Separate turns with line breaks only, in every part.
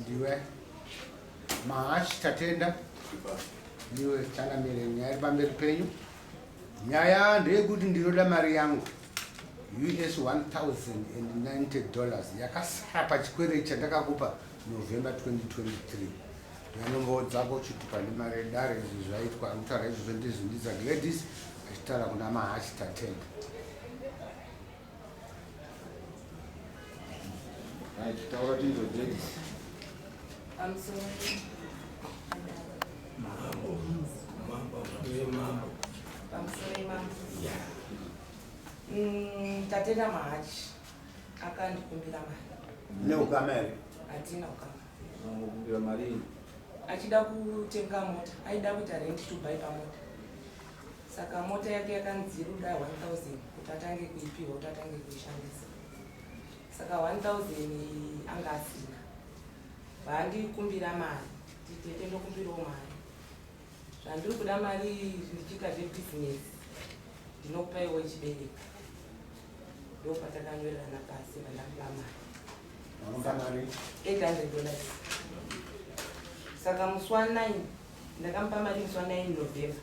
ndiwe mahash tatenda ndiwe changamire nyaya iri pamberi penyu nyaya ndeyekuti ndinoda mari yangu us 1090 dollars yakasara pachikwerei chandakakupa november 2023 yanombowo dzako uchiti pane mari yedare izvi zvaitwa kutaura izvozvo ndizvindiza gladys achitaura kuna mahashi tatenda
Mm, tatenda mahachi akandikumbira mari neukama here
hatina
ukamakumbira
mari achida
kutenga mota aida kuita rent to buy pamota Saka mota yake yakanzi ruda 1000 kuti atange kuipiwa kuti atange kuishandisa. Saka 1000 anga asina. Vaandikumbira mari, titete ndokumbirawo mari. Zvandiri kuda mari ndichiita zvebusiness ndinokupa iwe chibereka. Ndopatakanywererana pasi vandakupa mari.
Vanoda mari 800 dollars.
Saka musi wa 9 ndakamupa mari musi wa 9 November.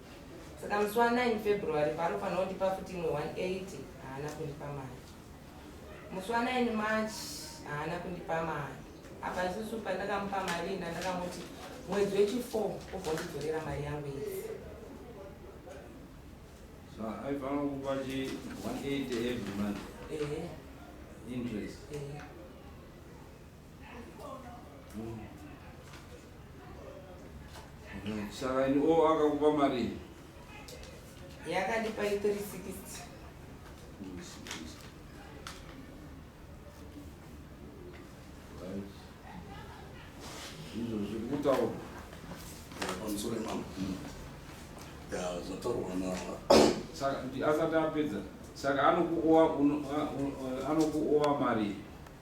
Saka musi wa 9 February paanofanira kundipa futi imwe 180 haana kundipa mari. Musi wa 9 March haana kundipa mari. Apa isusu pandakamupa mari inda ndakamuti mwedzi wechi 4 ubondidzorera mari yangu iyi. So
aifanira kukupa chi 180 every month. Ehe. Interest. Ehe. saka o oh, akakupa mari
yakandipa i 360
izvo zviri kutaura
pamusoro imama ya zvataurwa na saka
asati apedza saka anokuowa anokuowa mari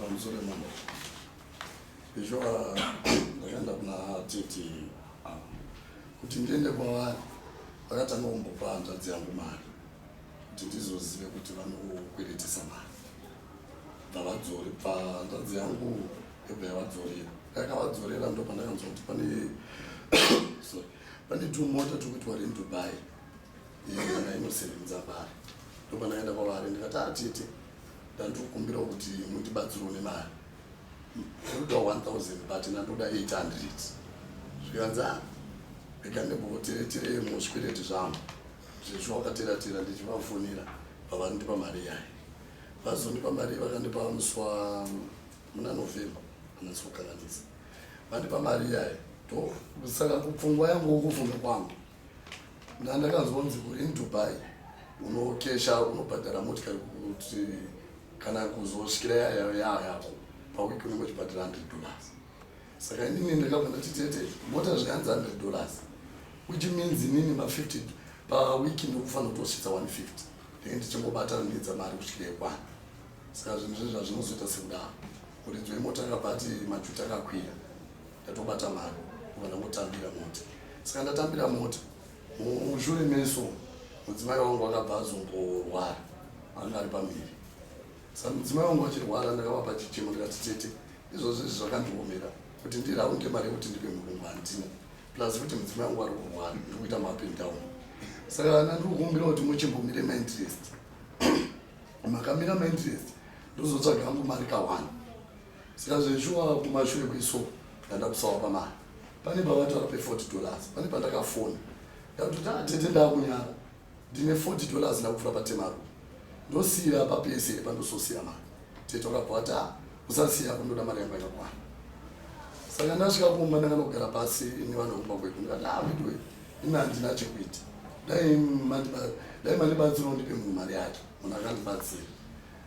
pamusoro
mama izvo ndakaenda kuna titi kuti ndiende kwavari vakatanga kumbopa hanzvadzi yangu mari kuti ndizozive kuti vanokweretesa mari ndavadzori bva hanzvadzi yangu yobva yavadzorera yakavadzorera ndo pandakanzwa kuti pane sorry pane tumota twekuti wari mudubai yona inosevenza mari ndopanaenda kwavari ndikati atete ah, ndandikukumbirawo kuti mundibatsirwo nemari ndoda 1000 but nandoda 800 zvikanzi ah, rega ndimbotereterei muzvikwereti zvangu zvezvo wakateratera ndichivafonera vavandipa mari yayo vazondipa mari vakandipa muswa muna november anasikukanganisa vandipa mari yayo to saka kupfungwa yangu kufunga kwangu Ndandakazonzi uri muDubai unokesha unobhadhara motikari kuti kana kuzosvikira yayo yayo yako pawiki unenge uchibhadhara hundred dollars saka inini ndakabva ndati tete mota zviyanzi hundred dollars which means inini mafifty pawiki ndikufanira kutosvitsa one fifty ndenge ndichingobatana ndiedza mari kusvika yekwana saka zvinhu zvezvazvinozoita sekudaro kuridzwa imota akabva ati majuta akakwira ndatobata mari kuva ndangotambira mota saka ndatambira mota mushure meso mudzimai wangu akabva azongorwara anga ari pamberi saka mudzimai wangu achirwara ndakavapa chichemo ndikati tete izvozvo izvi zvakandiomera kuti ndiraunde mari yekuti ndipe murungu handina plus kuti mudzimai wangu ari kurwara ndiri kuita mapi ndown saka ana ndiri kukumbira kuti muchimbomire mainterest makamira mainterest ndozotsvaga angu mari kawani Saka zveshuwa kumashure kweso ndandakusawa pamari. Pane pavataura pe 40 dollars. Pane pandakafona. Ndakuti ta tete ndakunyara. Ndine 40 dollars ndakufura pa temaru. Ndosira pa pese pandososira mari. Tete wakabvata usasiya kundoda mari yangu yakwana. Saka ndasvika kumba ndakanogara pasi ini vanhu kumba kwedu. Ndati ah vedu ini handina chekuita. Dai mandi dai mandi batsiro ndipe munhu mari yake. Munhu akandibatsira.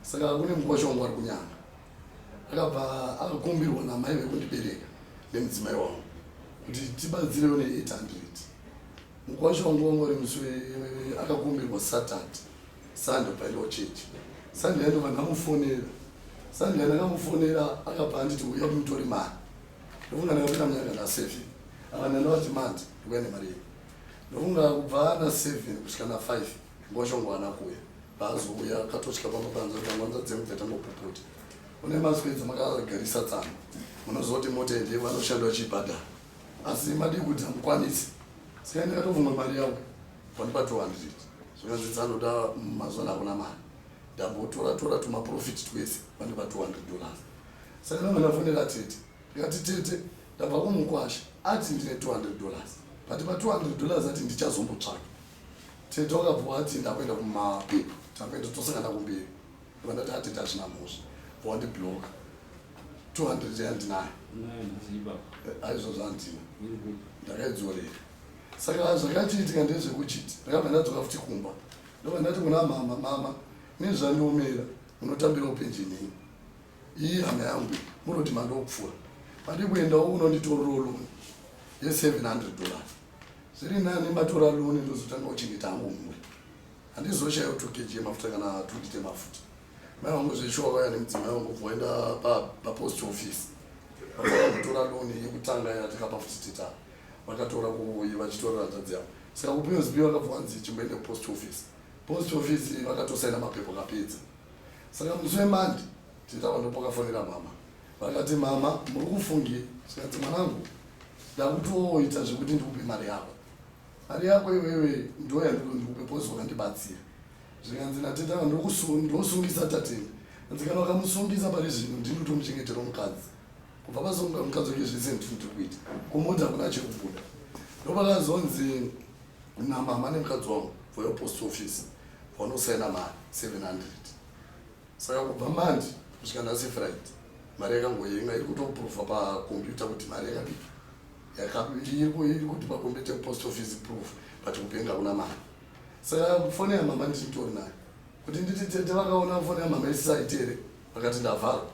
Saka kune mkwasha wangu ari kunyanga. akabva akakumbirwa namai vekundibereka nemudzimai wangu kuti tibatsirewo ne800 mukwasha wangu wangu ari musi akakumbirwa satat sunday paidiwa chechi sunday yandova ndamufonera sunday ndakamufonera akabva anditi uya kumutori mari ndofunga ndakapinda munyanga naseven akana ndavati mandi ndikuya nemari yei ndofunga kubva naseven kusvika nafive Ngoshongwana kuya paazouya akatosvika pamapanza kuti amwanza dzemubve tambopuputi une maswedzi makagarisa tsano munozoti motende vanoshanda vachibhadhara asi madii kuti hamukwanisi saka ndakatovumwa mari yavo pandipa 200 zvikanzi dzanoda mazuva nakuna mari ndambotora tora tumaprofiti twese pandipa 200 dollars saka nanga ndafonera tete ndikati tete ndabva kumukwasha ati ndine 200 dollars pandipa 200 dollars ati ndichazombotsvaka Tete wakabva wati ndakuenda kumapepa takaenda tosangana kumberi vandati atete hazvina mhosva wandibloka 200 yandinayo aizvozvo andina ndakaidzorera saka zvakachiitika ndezvekuchiti ndakabva ndadzoka futi kumba ndobva ndati kuna mama mama nezvandiomera munotambira upenjenei iyi hama yangu munoti mandokupfuura pandikuendawo unonditororoloni ye 700 dollars Zviri nani matora loan ndozotanga kuchengeta hangu mhuri. Handizoshayo 2 kg yemafuta kana 2 lita yemafuta. Mai vangu zveshuwa vaya nemudzimai vangu voenda papost office. Vakatanga kutora loan yekutanga ya tikapa futi tita. Vakatora kuyi vachitorera hanzvadzi yavo. Saka kupiwa zipi vakabva vanzi chimboende kupost office. Post office vakatosaina mapepo kapedza. Saka musi wemandi Titaura ndipo pakafonera mama vakati mama muri kufungi zvikanzi mwanangu ndakutoita zvekuti ndikupe mari yako mari yako iwewe ndo yandiko ndikupe pozi wakandibatsira zvikanzi nateta ndosungisa tateni anzi kana wakamusungisa pari zvino ndini utomuchengetero mukadzi kubva pasunga mukadzi wake zvese ndinoti kuita kumudzi hakuna chekubuda ndopakazonzi namama nemukadzi wangu voyo post office vanosaina mari 700 Saka kubva mandi kusvika nhasi Friday mari yakangoyenga iri kutoprova pakombiyuta kuti mari yakadii iri kuti pakombiyuta post office proof but kupenga kuna mari saka foni yamama ndichitori nayo kuti nditi tete vakaona foni yamama isisaiti here vakati ndavharwa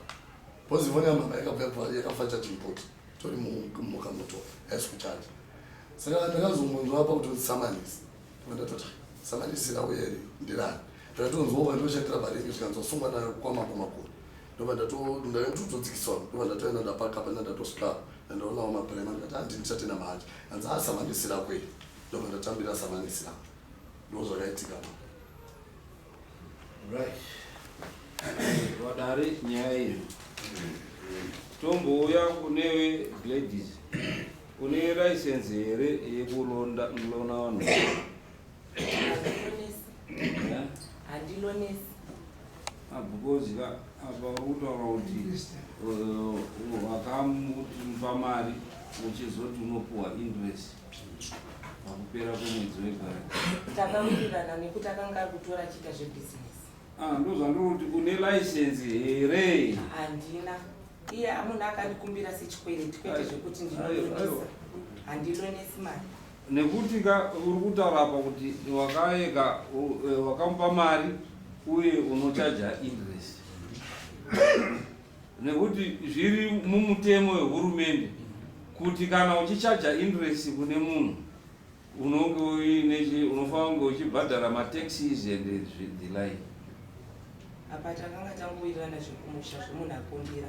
bcoz foni yamama yakafa chachimpoti tori mhuka muto haisi kuchaja saka ndakazongonzwa apa kutosamanisa Ndatoti samani isina uye ndirani ndatonzwa vanhu vachandira varingi zvikanzwa sungwa nayo kwamambo makuru ndobva ndatodzikiswa ndobva ndatoenda ndapaka pana ndatosvika ndandaonawo maprema ndikati handi ndichatenda manje hanzi a ah, samani isina kwei ndobva ndatambira samani isina ndozvakaitika
Right. Vadare nyaya iyo. Tombouya kunewe Gladys. Une license here yekulonda mlona vanhu? Yeah?
handilonesi Ah,
because ka apa uri kutaura kuti uh, wakamupa mari uchizoti unopuwa interest. pakupera kwemwedzi wegwara takawirirana
nekuti akanga ari kutora achiita zvebhizinesi ah, ndozvandikuti
une license here handina
iye amuna akandikumbira sechikwereti kwete zvekuti ndinoisa handilonesi mari nekuti ka
uri kutaura apa kuti wakaeka e, wakamupa mari uye unochaja interest nekuti zviri mumutemo wehurumende kuti kana uchichaja interest kune munhu unonge uine chi- unofanira kunge uchibhadhara mataxes and zvi- the like
apa takanga tangowirirana zvekumusha zvemunhu akumbira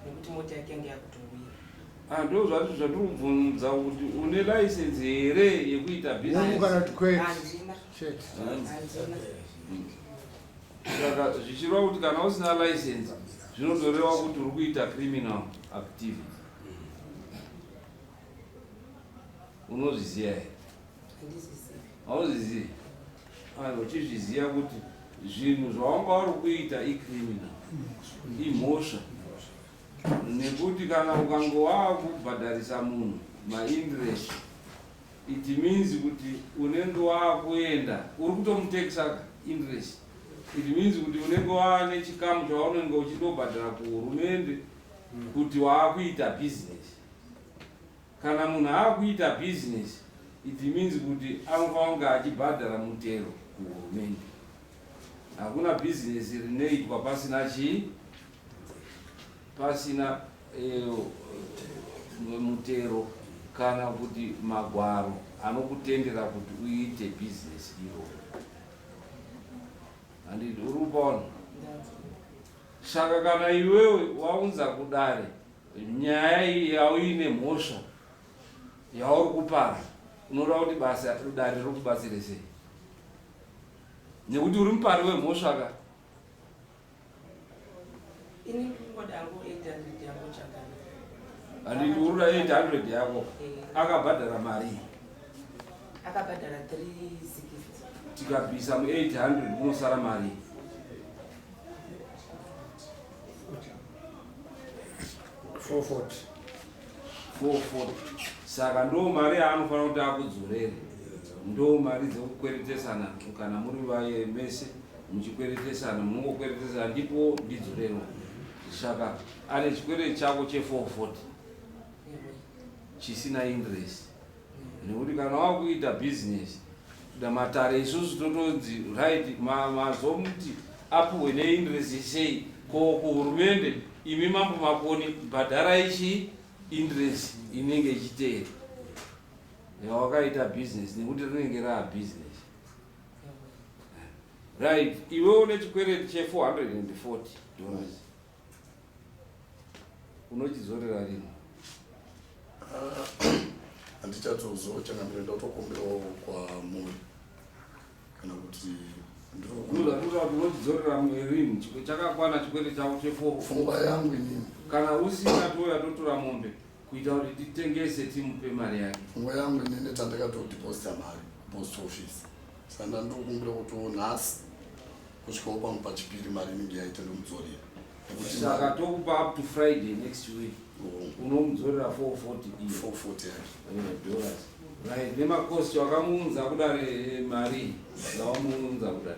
nekuti mota yake yange yakutowira Ah, ndo zvati zvatiri
kubvunza kuti une license here yekuita business Munhu kana kuti kwete. handina
Chete. handina
saka zvichireva kuti kana usina license zvinotoreva kuti uri kuita criminal activity unozviziva here hauzvizivi uchizviziva kuti zvinhu zvawanga wari kuita icriminal imhosva nekuti kana ukanga waakubhadharisa munhu maindirest It means kuti unenge wakuenda uri kutomutexer interest. It means kuti unenge waane chikamu chaunenge uchindobhadhara kuhurumende kuti waakuita business. Kana munhu aakuita business it means kuti anofanira kunge achibhadhara mutero kuhurumende. Hakuna business rinoitwa pasina chii. pasina mutero kana kuti magwaro anokutendera kuti uite bhizinesi iroro handidi uri kupaona saka kana iwewe waunza kudare nyaya iyi yauine mhosva yauri kupara unoda kuti basa dare riri kubatsire sei nekuti uri mupari wemhosva ka
Ini kungoda hangu 800 yako chakana. Handiti
uri na 800 yako Eh. akabhadhara marii
Akabhadhara 360.
tikabvisa mu 800 munosara marii Four forty. 440 saka ndo mari yaanofanira kuti akudzorere ndo mari dzekukweretesana kana muri vaye mese muchikweretesana munongokweretesana ndipo ndidzorewo shaka ane chikwere chako che 440 chisina interest nekuti kana wakuita business da matare isusu totonzi right mazomuti ma apuhwe neinterest sei ko kuhurumende imi mambo makoni bhadhara ichi interest inenge ichiteera yawakaita business nekuti rinenge raa business right iwe une chikwereti che 440 dollars unochizorera rini
handichatozochangamira ndatokumbirawo kwamuri kana kuti unochizorera
rini chakakwana chikwere chavo chefo pfungwa yangu inini
kana usina
touya totora mombe kuita kuti titengese timupe mari yake pfungwa yangu inene
tandakatodeposita mari post office sanda ndokumbira kuti nhasi kusvikawo pangu pachipiri mari inenge yaita ndomudzorera saka
tokupa up to friday next week oh. unomudzorera 440 dollars right nemakosti wakamuunza kudare mari dzawamuunza kudare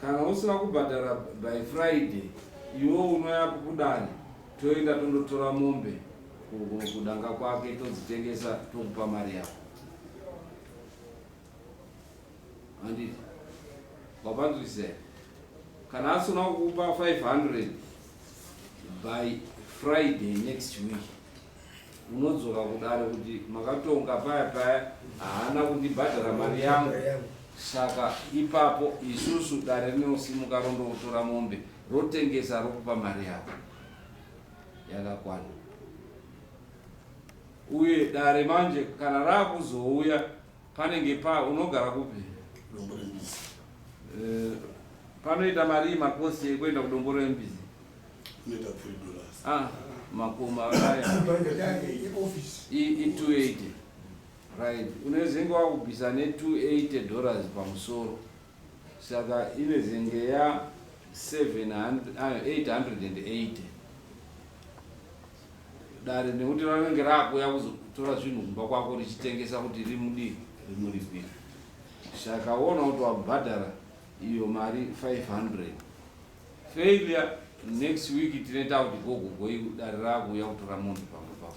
Kana usina kubhadhara by Friday iwo unoya kukudani toenda tondotora mombe kudanga kwake todzitengesa tokupa mari yako. Anditi wapanzwisisa kana asina kukupa 500 by Friday next week Unodzoka kudare kuti makatonga paya paya haana kundibhadhara mari yangu saka ipapo isusu dare rinosimuka rondootora mombe rotengesa rokupa mari yako yakakwana uye dare manje kana raakuzouya Panenge pa unogara kupi? Dombo rembizi.
Eh,
panoita marii makosi ekuenda kudombo rembizi? Unoita 3
dollars. Ah, makumi
akaya. I, i 280. Right. Unezenge wakubvisa ne 280 dollars pamusoro. Saka inezenge ya 880 dare nekuti ranenge rakuya kuzotora zvinhu kumba kwako richitengesa kuti rimudii rimuripira saka wona kuti wabhadhara iyo mari 500 failure next week tine takuti gogo goi dare rakuya kutora munhu pamwe pako